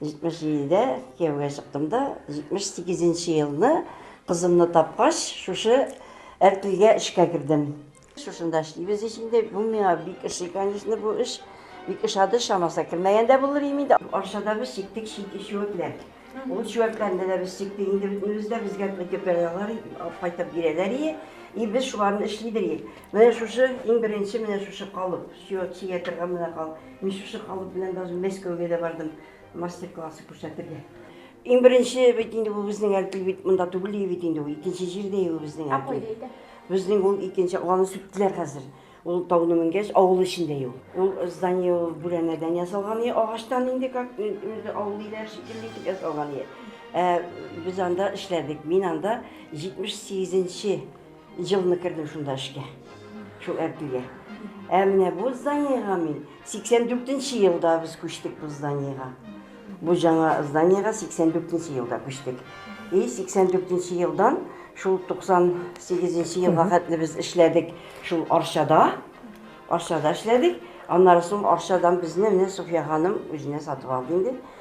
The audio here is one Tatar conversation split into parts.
77-дә кияүгә чыктым да, 78 нче елны кызымны тапкач, шушы Әркилгә эшкә кердем. Шушында эшлибез ич инде. Бу миңа бик ошый, конечно, бу эш. Бик ошады, чамаса кермәгән дә булыр идем инде. Арчада без чиктек чүәкләр. Ул чүәкләрне дә без чиктек инде бөтенебез дә, безгә көтәләр, кайтып бирәләр и, и без шуларны эшли идек. Менә шушы иң беренче менә шушы калып. Чио театрга менә кал. Мин шушы калып белән даже Мәскәүгә дә бардым мастер-классы күрсәтергә. Иң беренче бит инде бу безнең әлки бит монда түгел бит инде ул икенче җирдә ул безнең әлки. Ә кайда иде? Безнең ул икенче аны сүттеләр хәзер. Ул тауны менгәч авыл эчендә ул. Ул здание ул бүрәнәдән ясалган иде, агачтан инде как инде авыл өйләре шикелле итеп ясалган иде. Ә без анда эшләдек. Мин анда 78 нче Елны кердем шунда эшкә, шул Әбдүгә. Ә менә бу зданиега мин 84 нче елда без күчтек бу зданиега. Бу жаңа зданиега 84 нче елда күчтек. И 84 нче елдан шул 98 нче елга хәтле без эшләдек шул Арчада. Арчада эшләдек. Аннары соң Арчадан безне менә Суфия ханым үзенә сатып алды инде.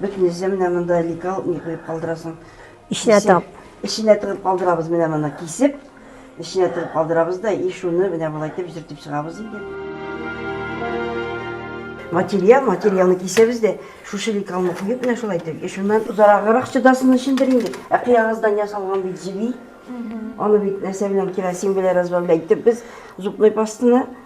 Бөтен нәрсә менә монда лекал ни куеп калдырасың. Эченә тыгып. Эченә тыгып калдырабыз менә моны кисеп. Эченә тыгып калдырабыз да и шуны менә болай итеп җөртеп чыгабыз инде. Материал, материалны кисәбез дә, шушы лекалны куеп менә шулай итеп. И шуннан озараграк чыдасын өчендер инде. Ә кыягыздан ясалган бит җеби. Аны бит нәрсә белән керосин белән разводка итеп без зубной пастаны